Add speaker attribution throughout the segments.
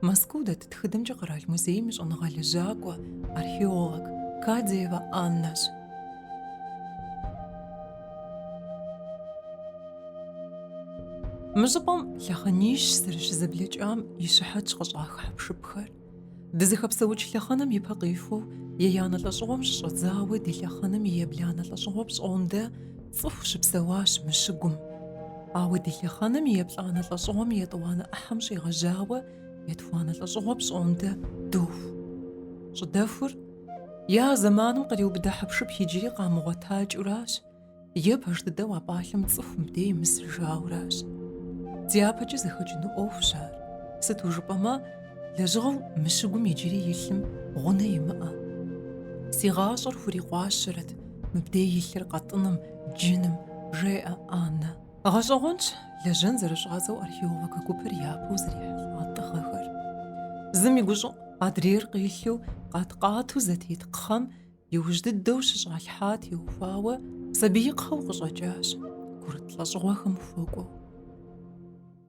Speaker 1: Мэзкуу дэт тхыдэмкӏэ къэрал музейм и щӏэныгъэ лэжьакӏуэ, археолог Кадиевэ Аннэщ. Мы щӏыпӏэм лъэхъэнищ зэрыщызэблэкӏам и щыхьэтщ къыщӏах хьэпшыпхэр. Дызыхэпсэукӏ лъэхъэнэм ипэ къихуэу, еянэ лӏэщӏыгъуэм щыщӏэдзауэ ди лъэхъэнэм и ебланэ лӏэщӏыгъуэ пщӏондэ цӏыху щыпсэуащ мы щыгум. Ауэ ди лъэхъэнэм и еплӏанэ лӏэщӏыгъуэм и етӏуанэ ӏыхьэм щӏигъэжьауэ етхуанэ лӏэщӏыгъуэ пщӏондэ доху. Щӏыдэхур я зэманым къриубыдэ хьэпшып иджыри къамыгъуэтакӏыуращ, е пэж дыдэу а пӏалъэм цӏыху мыбдей имысыжауращ. Дяпэкӏэ зэхэкӏыну ӏуэхущ ар, сыту жыпӏэмэ, лэжьыгъэу мы щыгум иджыри илъым гъунэ имыӏэ. Си гъащӏэр хурикъуащэрэт мыбдей илъыр къэтӏыным, джыным, жеӏэ Аннэ. Гъэщӏэгъуэнщ лэжьэн зэрыщӏадзэу археологэ гупыр япэу зэрихьэлӏа тӏыгъэхэр. Зым и гущӏыӏу адрейр къилъу къат-къату зэтет кхъэм иужь дыдэу щыщӏалъхьа теухуауэ сабиикхъэу къыщӏэкӏащ, курыт лӏэщӏыгъуэхэм хуэкӏуэу.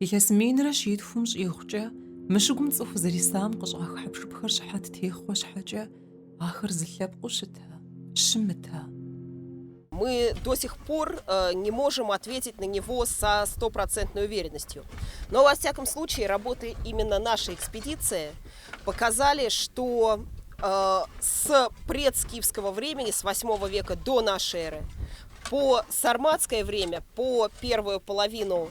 Speaker 2: Илъэс
Speaker 1: минрэ щитхум щӏигъукӏэ мы щыгум цӏыху зэрисам къыщӏах хьэпшыпхэр щыхьэт техъуэ щхьэкӏэ, ахэр зы лъэпкъыу щыта, щымыта.
Speaker 2: Мы до сих пор не можем ответить на него со стопроцентной уверенностью. Но во всяком случае работы именно нашей экспедиции показали, что с предскифского времени, с 8 века до нашей эры, по сарматское время, по первую половину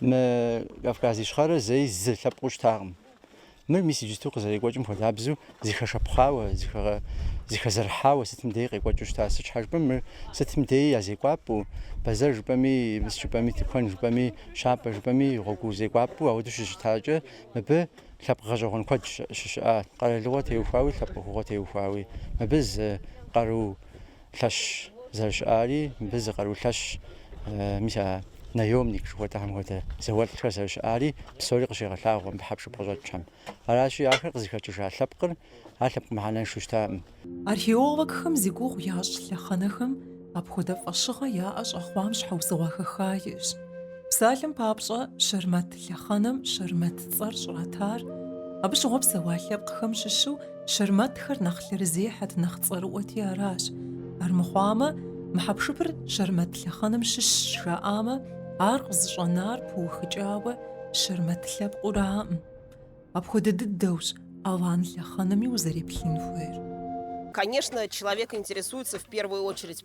Speaker 3: Мы Кавказ Ищхъэрэр зэи зы лъэпкъыу щытакъым. Мыр мис иджысту къызэрекӏуэкӏым хуэдабзэу зыхэшэпхъауэ, зыхэзэрыхьауэ сытым дей къекӏуэкӏыу щыта. Сыт щхьэ жыпӏэм, мыр сытым дей я зекӏуапӏэу, бэзэр жыпӏэми, мыс жыпӏэми, тыкуэн жыпӏэми, щапӏэ жыпӏэми, гъуэгу зекӏуапӏэу ауэдэу щыщытакӏэ, мыбы лъэпкъ гъэщӏэгъуэн куэд щыщыӏа, къэралыгъуэ теухуауи, лъэпкъ ӏуэхугъуэ теухуауи. Мыбы зы къару лъэщ зэрыщыӏари мыбы зы къару лъэщ, мис а наемник жыхуэтӏэхэм хуэдэ зауэлӏхэр зэрыщыӏари псори къыщегъэлъагъуэ мыбы хьэпшып къыщӏэкӏхэм. Аращи, ахэр къызыхэкӏыжа лъэпкъыр ар лъэпкъ мыхьэнэншэу щытаӏым.
Speaker 1: Археологхэм зи гугъу ящӏ лъэхъэнэхэм апхуэдэ фӏэщыгъэ яӏэ щӏэхъуам щхьэусыгъуэ хэха иӏэщ. Псалъэм папщӏэ, Щэрмэт лъэхъэнэм Щэрмэт цӏэр щӏратар, абы щыгъуэ псэуа лъэпкъхэм щыщу, щэрмэтхэр нэхъ лъэрызехьэт, нэхъ цӏэрыӏуэти аращ. Армыхъуамэ, мы хьэпшыпыр щэрмэт лъэхъэнэм щыщщ жаӏамэ, ар къызыщӏэнар пыухыкӏауэ щэрмэт лъэпкъыураӏым. Апхуэдэ дыдэущ алан лъэхъэнэми узэреплъын хуейр. Конечно,
Speaker 2: человек интересуется в первую очередь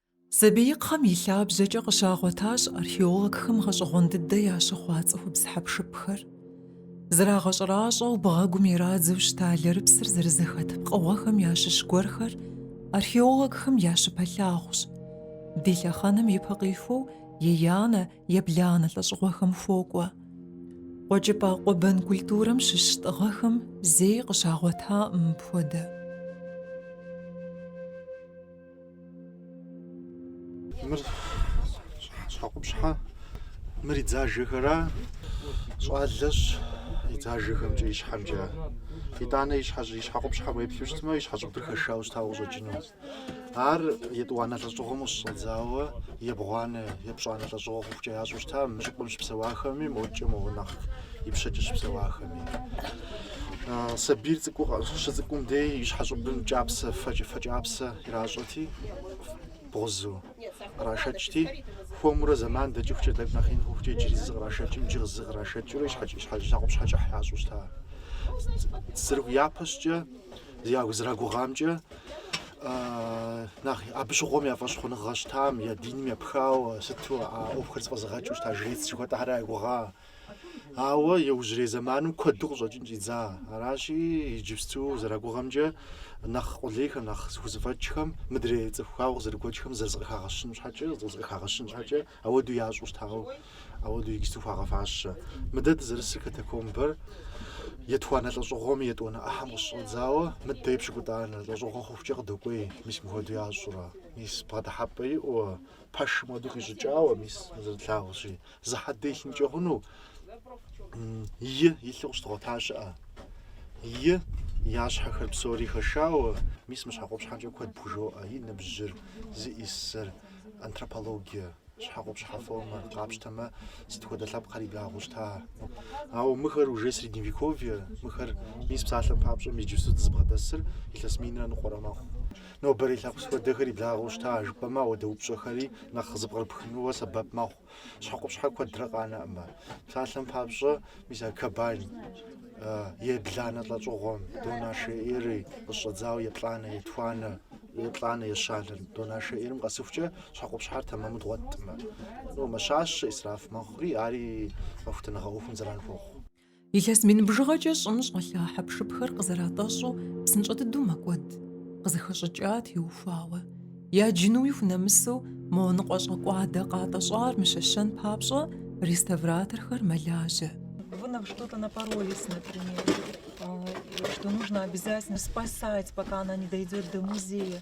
Speaker 1: Сабиикхъэм и лъабжьэкӏэ къыщагъуэтащ археологхэм гъэщӏэгъуэн дыдэ ящыхъуа цӏыхубз хьэпшыпхэр. Зрагъэщӏэращӏэу бгъэгум ирадзэу щыта лэрыпсыр зэрызэхэт пкъыгъуэхэм ящыщ гуэрхэр археологхэм я щыпэлъагъущ. Ди лъэхъэнэм ипэ къихуэу еянэ, ебланэ лӏэщӏыгъуэхэм хуокӏуэ. Къуэкӏыпӏэ къуэбэн культурэм щыщ тӏыгъэхэм зэи къыщагъуэтакъым мыпхуэдэ.
Speaker 4: Мыр щхьэкъупщхьэ, мыр и дзажэхэра? Щӏалэщ и дзажэхэмкӏэ, и щхьэмкӏэ. Итӏанэ и щхьэкъупщхьэ уеплъу щытмэ, и щхьэщӏыбыр хэшауэ щытауэ къыщӏэкӏыну. Ар етӏуанэ лӏэщӏыгъуэм ущыщӏэдзауэ, ебгъуанэ, епщӏанэ лӏэщӏыгъуэ хъухукӏэ ящӏу щыта мы щӏыпӏэм щыпсэуахэми, модкӏэ мо нэхъ ипщэкӏэ щыпсэуахэми. Сабийр цӏыкӏу щыцӏыкӏум дей и щхьэщӏыбым кӏапсэ, фэкӏапсэ иращӏэти, бгъузу кърашэкӏти, хуэмурэ зэман дэкӏыхукӏэ, тӏэкӏу нэхъ ин хъухукӏэ иджыри зы кърашэкӏым, иджы зы кърашэкӏыурэ и щхьэкъупщхьэ кӏыхь ящӏу щыта. Зэры, япэщӏыкӏэ зэрагугъамкӏэ, нэхъ абы щыгъуэм я фӏэщхъуныгъэ щытам, я диным епхауэ, сыту а ӏуэхухэр зэфӏэзыгъэкӏыу щыта, жрец жыхуэтӏэхэра я гугъа. Ауэ иужьрей зэманым куэду къыщӏэкӏын щӏидза. Аращи, иджыпсту зэрагугъэмкӏэ, нэхъ къулейхэм, нэхъ зыхузэфӏэкӏхэм, мыдрей цӏыху ауэ къызэрыгуэкӏхэм зэрызыкъыхагъэщын щхьэкӏэ, зыкъызэрыхагъэщын щхьэкӏэ, ауэду ящӏу щытауэ, ауэду иджыпсту хуагъэфащэ. Мыдэ дызэрысыр катакомбэр етхуанэ лӏэщӏыгъуэм и етӏуанэ ӏыхьэм къыщыщӏэдзауэ, мыдэ епщыкӏутӏанэ лӏэщӏыгъуэ хъухукӏэ къыдокӏуей, мис мыхуэду ящӏурэ, мис бгъэдыхьэпӏэ иӏэуэ, пэшым хуэдэу къищӏыкӏауэ, мис зэрытлъагъущи, зы хьэдэ илъынкӏэ хъуну и илъу къыщыдгъуэта щыӏэ. И я щхьэхэр псори хэшауэ, мис мы щхьэкъупщхьэмкӏэ куэд пхужоӏэ, и ныбжьыр, зиӏысыр, антропологие, щхьэкъупщхьэ формэр къапщтэмэ, сыт хуэдэ лъэпкъхэр и благъэу щыта. Ауэ мыхэр уже средневековье, мыхэр мис псалъэм папщӏэ иджыпсту дызыбгъэдэсыр илъэс минрэ ныкъуэрэ мэхъу. Нобэрей лъэпкъ сыт хуэдэхэр и благъэу щыта жыпӏэмэ ауэдэ упщӏэхэри нэхъ зэпкърыпхынууэ сэбэп мэхъу. Щхьэкъупщхьэр куэдрэ къанэӏымэ. Псалъэм папщӏэ, мис а кобан, ебланэ лӏэщӏыгъуэм до нашей эры къыщӏэдзауэ еплӏанэ, етхуанэ, еплӏанэ ещанэ до нашей эрым къэсыхукӏэ, щхьэкъупщхьэр тэмэму дгъуэтӏымэ. Ну, мэщащэ, исраф мэхъури, ари къэхутэныгъэ ӏуэхум зэран хуохъу. Илъэс
Speaker 1: мин бжыгъэкӏэ щӏым щӏэлъа хьэпшыпхэр къызэратӏэщӏу псынщӏэ дыдэу мэкӏуэд. Къызыхэщӏыкӏам теухуауэ яджынуи хунэмысу мо ныкъуэщӏэкӏуадэ къатӏэщӏар мыщэщэн папщӏэ реставраторхэр мэлажьэ. Вы на
Speaker 5: что-то напоролись, например, что нужно обязательно спасать, пока она не дойдет до музея.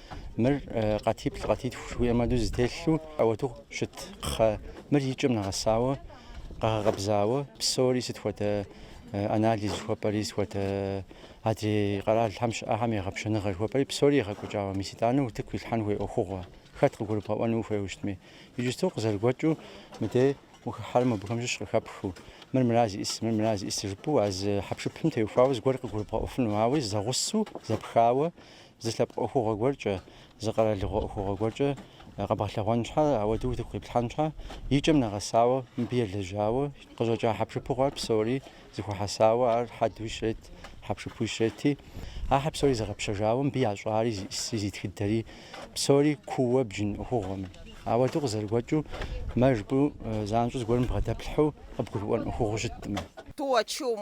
Speaker 3: Мыр къатиплӏ, къатитху жыхуиӏэм адэу зытелъу ауэду щыт кхъэ. Мыр и кӏэм нэгъэсауэ, къэгъэкъэбзауэ, псори сыт хуэдэ анализ жыхуэпӏэри, сыт хуэдэ адрей къэралхэм щыӏэхэм егъэпщэныгъэ жыхуэпӏэри, псори егъэкӏуэкӏауэ. Мис итӏанэ утыку илъхьэн хуей ӏуэхугъуэ. Хэт къыгурыбгъэӏуэну ухуейуэ щытми. Иджысту къызэрыгуэкӏыу мыдей ухыхьэри мобыхэм щыщ къыхэпхыу. Мыр мыра зиӏыс, мыр мыра зиӏыс жыпӏэу а зы хьэпшыпым теухуауэ зыгуэр къыгурыбгъэӏуэфыну. Ауэ зэгъусэу, зэпхауэ, Зы лъэпкъ ӏуэхугъуэ гуэркӏэ, зы къэралыгъуэ ӏуэхугъуэ гуэркӏэ къэбгъэлъэгъуэн щхьэ, ауэдэу утыку къиплъхьэн щхьэ, и кӏэм нэгъэсауэ, мыбы елэжьауэ, къыщӏэкӏа хьэпшыпу хъуар псори зыхуэхьэсауэ ар хьэдуи щрет, хьэпшыпуи щрети, ахэр псори зэгъэпщэжауэ, мыбы ящӏари, зиӏыси, зи тхыдэри, псори кууэ бджын ӏуэхугъуэм. Ауэдэу къызэрыгуэкӏыу, мэ жыпӏэу занщӏэу зыгуэрым бгъэдэплъхьэу къыбгурыӏуэн ӏуэхугъуэу щыткъымэ. Тӏуэ-чум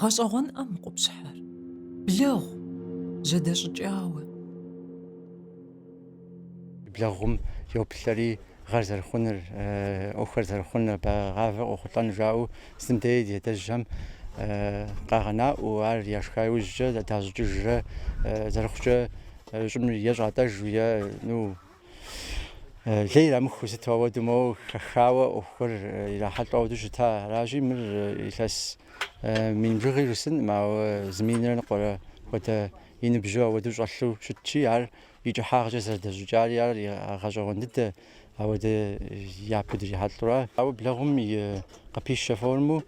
Speaker 2: Гъэщӏэгъуэнӏэ мы къупщхьэр.
Speaker 3: Блэгъу, зэдэщӏыкӏауэ. Блэгъум йоплъэри гъэр зэрыхъуныр, ӏуэхухэр зэрыхъуныр, бэгъавэ къохъулӏэн жаӏэу зым дей ди адэжьхэм къагъэнаӏуэу, ар яшха иужькӏэ дащӏыкӏыжрэ зэрыхъукӏэ щӏым е щӏатӏэжу е ну лей ирамыхыу сыт ауэду моуэ хэхауэ ӏуэхухэр ирахьэлӏу ауэду щыта. Аращи, мыр илъэс мин бжыгъи жысӏэнкъым, ауэ зы минрэ ныкъуэрэ хуэдэ и ныбжьу ауэду щӏэлъу щытщи, ар и кӏыхьагъкӏэ зэрыдэщӏыкӏари ари гъэщӏэгъуэн дыдэ ауэдэ япэу дрихьэлӏура. Ауэ блэгъум и къыпищэ формэу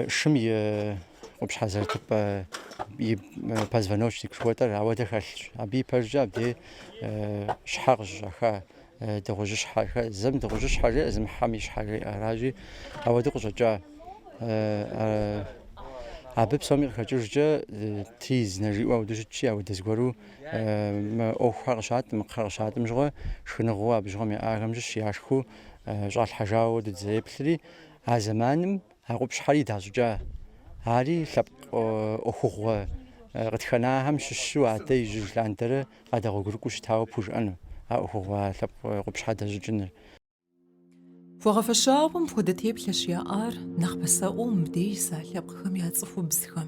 Speaker 3: Шым и къупщхьэ зэрытыпӏэ и позвоночник жыхуэтӏэр ауэдэ хэлъщ. Абы и пэжкӏэ абдей щхьэ къыщыщӏэха дыгъужьыщхьэхэ, зым дыгъужьыщхьэ жеӏэ, зым хьэм и щхьэ жеӏэ. Аращи, ауэдэ къыщӏэкӏа абы псоми къыхэкӏыжкӏэ тризнэ жиӏэу ауэдэ щытщи, ауэдэ зыгуэру мы ӏуэхухэр къыщатӏым, мы кхъэр къыщатӏым щыгъуэ, шхыныгъуэу абы щыгъуэм яӏахэм щыщ яшхыу щӏалъхьэжауэ ауэду дызэреплъри, А зэманым а къупщхьэри дащӏыкӏа. Ари лъэпкъ ӏуэхугъуэ къытхэнахьэм щыщу адэ ижьыж лъандэрэ къадэгъуэгурыкӏуэу щытауэ пхужыӏэну а ӏуэхугъуэ а лъэпкъ къупщхьэ дэщӏыкӏыныр.
Speaker 1: Хуэгъэфэщауэ мыпхуэдэ теплъэщ яӏар нэхъ пасэӏуэу мыбдеж иса лъэпкъхэм я цӏыхубзхэм.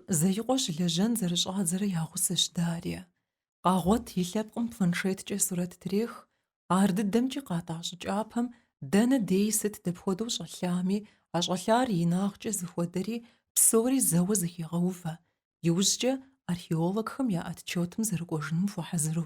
Speaker 1: Зеикъуэ щылэжьэн зэрыщӏадзэрэ я гъусэщ Дарья. Къагъуэт и лъэпкъым планшеткӏэ сурэт трех, ар дыдэмкӏи къатӏа щӏы кӏапэм дэнэ дей сыт дапхуэдэу щӏэлъами, а щӏэлъар инагъкӏэ зыхуэдэри, псори зэуэ зыхегъэувэ, иужькӏэ археологхэм я отчетым зэрыкӏуэжыным хуэхьэзыру.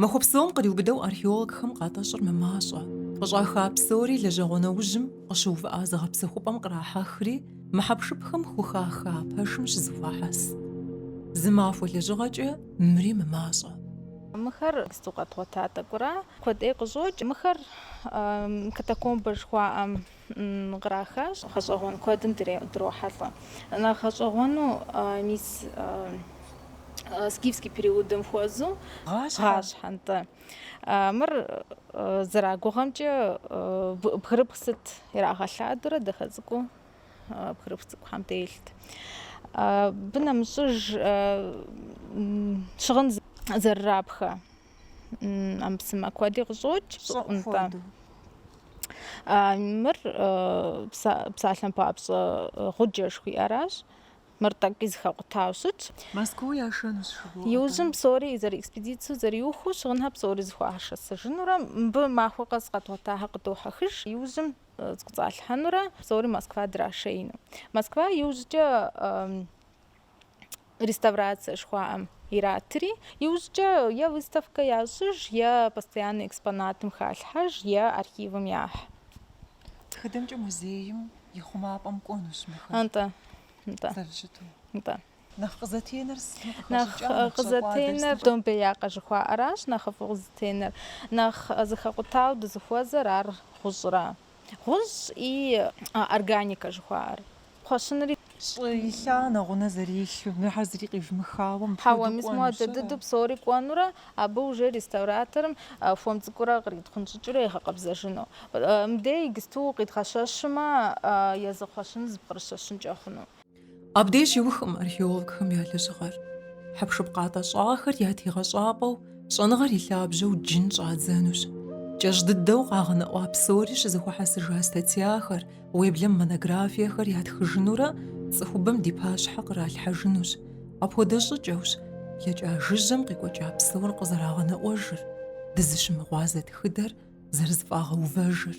Speaker 2: Махуэ
Speaker 1: псом къриубыдэу археологхэм къатӏэщӏыр мымащӏэ. Къыщӏаха псори лэжьэгъуэ нэужьым къыщыувыӏа зыгъэпсэхупӏэм кърахьэхри, мыхьэпшыпхэм хухаха пэшым щызэхуахьэс. Зы махуэ лэжьыгъэкӏэ мыри мымащӏэ.
Speaker 6: Мыхэр сыту къэдгъуэта тӏэкӏура? Куэд ӏей къыщӏокӏ мыхэр катакомбэ жыхуаӏэм. кърахащ. Гъэщӏэгъуэн куэдым дрохьэлӏэ. Нэхъ гъэщӏэгъуэну мис скифский периодым хуэзу гъащхьэ нтӏэ. Мыр зэрагугъэмкӏэ бгырыпх сыт ирагъэлъадурэ дахэ цӏыкӏуу бгырыпх цӏыкӏухэм телът. Абы нэмыщӏыж щыгъын зэрырапхэ. ӏэмэпсымэ куэди къыщӏокӏ щӏыӏу нтӏэ. Мыр псалъэм папщӏэ гъуджэ жыхуиӏэращ. Мыр тӏэкӏи зыхэкъутауэ щытщ. Москва
Speaker 5: яшэнущ жыхуоӏэ. Иужьым
Speaker 6: псори зэрыэкспедицэу зэриухыу щыгъынхэр псори зыхуахьэсыжынурэ мыбы махуэ къэс къэдгъуэтахэр къыдохьэхыж. Иужьым зыкӏуэцӏалъхьэнурэ псори Москва драшеину. Москва иужькӏэ реставрация жыхуаӏэм иратри, иужькӏэ е выставкэ ящӏыж, е постояннэ экспонатым халъхьэж, е архивым яхь. Тхыдэмкӏэ
Speaker 5: музейм и хъумапӏэм кӏуэнущ мыхэр.
Speaker 6: Нтӏэ, нтӏэ.
Speaker 5: Зэрыщыту.
Speaker 6: Нтӏэ. Нэхъ
Speaker 5: къызэтенэр сыту
Speaker 6: къыхэщӏыкӏа, нэхъ къызэтенэр домбеякъэ жыхуаӏэращ нэхъыфӏу къызэтенэр. Нэхъ зыхэкъутауэ дызыхуэзэр ар гъущӏрэ. Гъущӏ и органикэ жыхуаӏэр. Кхъуэщынри щӏы илъа
Speaker 5: нэгъунэ зэрилъу, мыхэр зыри къивмыхауэ, мыпхуэдэу кӏуэнущ. Хьэуэ, мис моуэ адэ
Speaker 6: дыдэу псори кӏуэнурэ, абы уже реставраторым хуэм цӏыкӏурэ къритхъунщӏыкӏыурэ егъэкъэбзэжыну. Мыбдей иджыпсту къидгъэщэщмэ, езы кхъуэщыныр зыпкърыщэщынкӏэ хъуну. Абдеж
Speaker 1: щиухкъым археологхэм я лэжьыгъэр. Хьэпшып къатӏэщӏахэр я тегъэщӏапӏэу щӏэныгъэр и лъабжьэу джын щӏадзэнущ. Кӏэщӏ дыдэу къагъэнэӏуа псори щызэхуэхьэсыжа статьяхэр, уеблэм монографиехэр ятхыжынурэ цӏыхубэм ди пащхьэ къралъхьэжынущ. Апхуэдэ щӏыкӏэущ блэкӏа жыжьэм къикӏуэкӏа псор къызэрагъэнэӏуэжыр, дызыщымыгъуазэ тхыдэр зэрызыфӏагъэувэжыр.